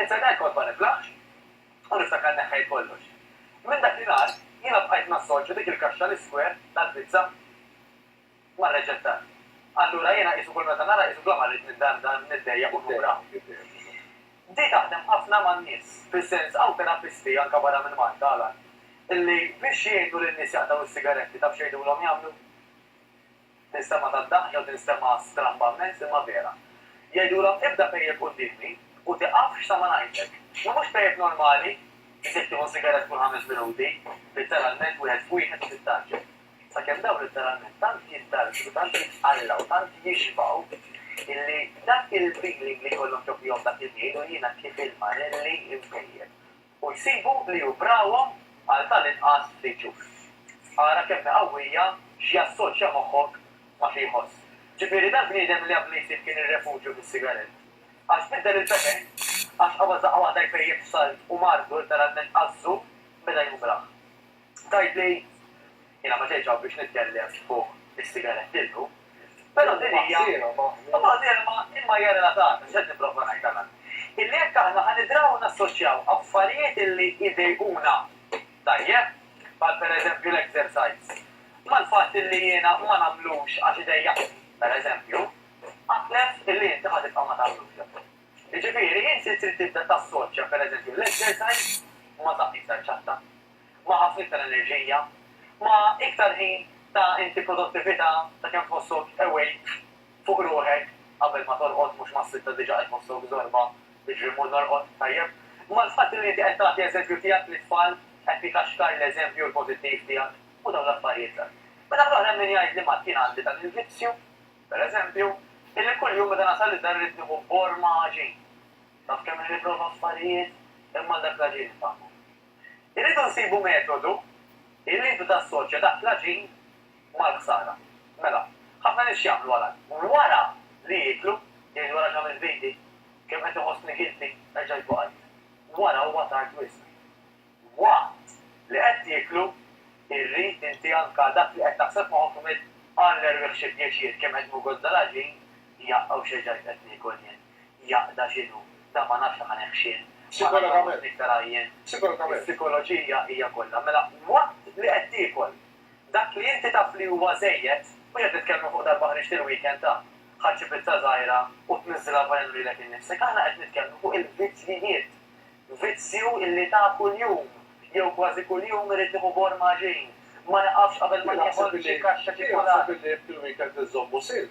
Insejt għal kont ma niflaħx u niftakar neħħejt kollox. Minn dak li nhar jiena bqajt nassorċja dik il-kaxxa l-iskwer tal-pizza mar-reċetta. Allura jiena qisu kull meta nara qisu bla ma rrid minn dar f'dar niddejjaq u nura. Di taħdem ħafna man-nies, fis-sens hawn terapisti anke barra minn Malta, Alan, li biex jgħinu lin-nies jaqtgħu s-sigaretti taf x'għidulhom jagħmlu? Tinstema' tad-daħk jew tinstema' stramba mmens imma vera. Jgħidulhom ibda pejjep quddiemi u tiqafx sa ma ngħidlek. Ma mhux pejjep normali, li trid tieħu sigarett kull ħames minuti, litteralment wieħed f'wieħed u tittarġen. Sakemm dawn litteralment tant jittarġnu, tant jitqallgħu, tant jixbgħu illi dak il-feeling li jkollhom ġo fihom dak iż-żmien u jiena kif ilma ħelli impejjep. u jsibu li hu brawhom għal tal-inqas ftit ġuf. Ara kemm hi qawwija x'jassoċja moħħok ma' xi jħoss. Ġifieri dal-bniedem li qablu jsib kien ir-refuġju fis-sigarett, għax biddel il-pepe, għax qabad daqqa waħda jpejjep salt u mardu litteralment għażżu beda jumraħ. Tgħidli, Jiena ma ġejtx hawn biex nitkellem fuq is-sigaretti llum, però din hija mbagħad kelma imma hija relatata, x'qed nipprova ngħid għal hawn? Illi jekk aħna ħa nidraw nassoċjaw affarijiet illi jdejquna, tajjeb, bħal pereżempju l-exercise, mal-fatt illi jiena ma nagħmlux għax idejjaqni, pereżempju, aqlef illi inti ħa tibqa' ma tagħmlux dan. Jiġifieri inti trid tibda tassoċja, pereżempju, l-exercise ma' saqajk tal-ċatta. ma' ħafna iktar enerġija, ma' iktar ħin ta' inti produttività ta' kemm tħossok awake fuq ruħek qabel ma torqod mhux mas-sitta diġa qed tħossok żorba jiġri mmur norqod tajjeb. Imma l-fatt li inti qed tagħti eżempju tiegħek lit-tfal qed tikaxkar l-eżempju l-pożittiv tiegħek u dawn l-affarijiet l. Min-naħa l-oħra hemm min jgħidli Mat jien għandi dan il-vizzju, per eżempju, illi kuljum meta nasal id-dar irrid nieħu borma għaġin. Taf kemm li nipprova affarijiet imma għal dak l-għaġin infahmu. Irridu nsibu metodu illi intu tassoċja dak l-għaġin mal-ħsara. Mela, ħafna nies x'jagħmlu għal hekk? Wara li jieklu, jgħidu ara x'għamilt b'idi, kemm qed iħossni guilty, erġajt waqajt. Wara huwa tard wisq. Waqt li qed tieklu, irrid inti anka dak li qed taħseb f'moħħok tgħmel, Alla erwieħ xi pjaċir kemm qed ngugozza l-għaġin, jaqqa' u x'erġajt qed niekol jien. jaqda x'inhu, dan ma nafx aħna neh x'in, ma nafx aħna mhux niktar għajjien. Is-sikoloġija hija kollha. Mela waqt li qed tiekol, dak li inti taf li huwa żejjed, mhux qed nitkellmu fuq darba ħriġt il-weekend ta, ħa xi pizza żgħira u tniżżilha f'għajnejn u lilek innifsek, aħna qed nitkellmu fuq il-vizzjijiet. Vizzju illi ta kuljum, jew kważi kuljum irid nieħu bor ma' xi, ma niqafx qabel ma nieħol xi kaxxa ċikkulata. Jien naħseb illi jekk il-weekend inżommu sinn,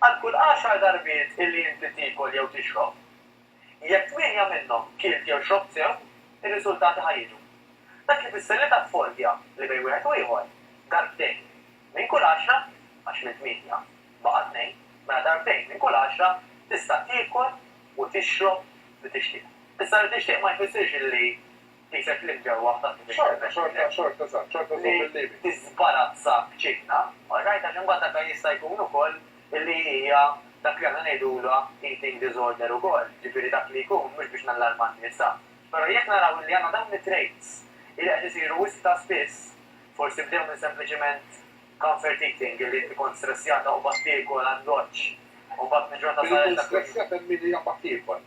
Għal kull għaxar darbiet illi inti tiekol jew tixrob, jekk tmienja minnhom kilt jew xrobt sew, ir-riżultati ħa jiġu. Dak ifisser li taf fordja li bejn wieħed u ieħor, darbtejn minn kull għaxra, għax minn tmienja baqa' tnejn, mela darbtejn minn kull għaxra tista' tiekol u tixrob li tixtieq. Issa li tixtieq ma jfissirx illi. Qiset li ġew waħda minn dik il-mexxejja. Xorta, xorta, xorta żżomm il-limiti. Li tiżbarazza b'ċinna, all right, għax imbagħad dak jista' jkun ukoll li hija dak li aħna ngħidulha eating disorder ukoll, jiġifieri dak li jkun, mhux biex nallarma n-nisa, però jekk naraw illi għandna dawn it-traits illi qed isiru wisq ta' spiss, forsi bdew minn sempliċiment comfort eating, illi int kont stressjata u mbagħad tiekol għad-goċċ u mbagħad minn ġurnata sal-oħra. Li tkun stressjata minn min qiegħed jiekol.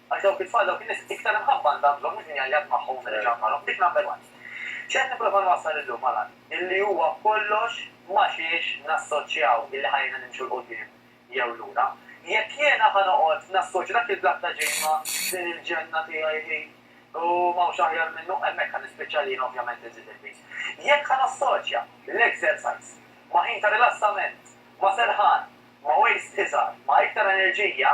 Għal dawk it-tfal, dawk in-nies, iktar imħabba għandha bżonn mhux min jgħajjat magħhom u min iġankarhom, dik number one. X'qed nipprova nwassal illum ma' l-għan? Illi huwa kollox ma' xiex nassoċjaw illi ħajjejna nimxu 'l quddiem jew lura. Jekk jiena ħa noqgħod nassoċja dak il-blat ta' ġid ma' din il-ġenna tiegħi hi u m'hawnx aħjar minnu, hemmhekk ħa nispiċċa li jiena ovvjament inżid il-piż. Jekk ħa nassoċja l-exercise ma' ħin ta' rilassament, ma' serħan, ma' waste iżgħar, ma' iktar enerġija,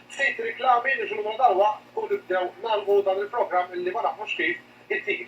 Ftit riklami li ġuna dalwaqt u nibdew nagħlqu dan il-programm illi ma nafux kif isir.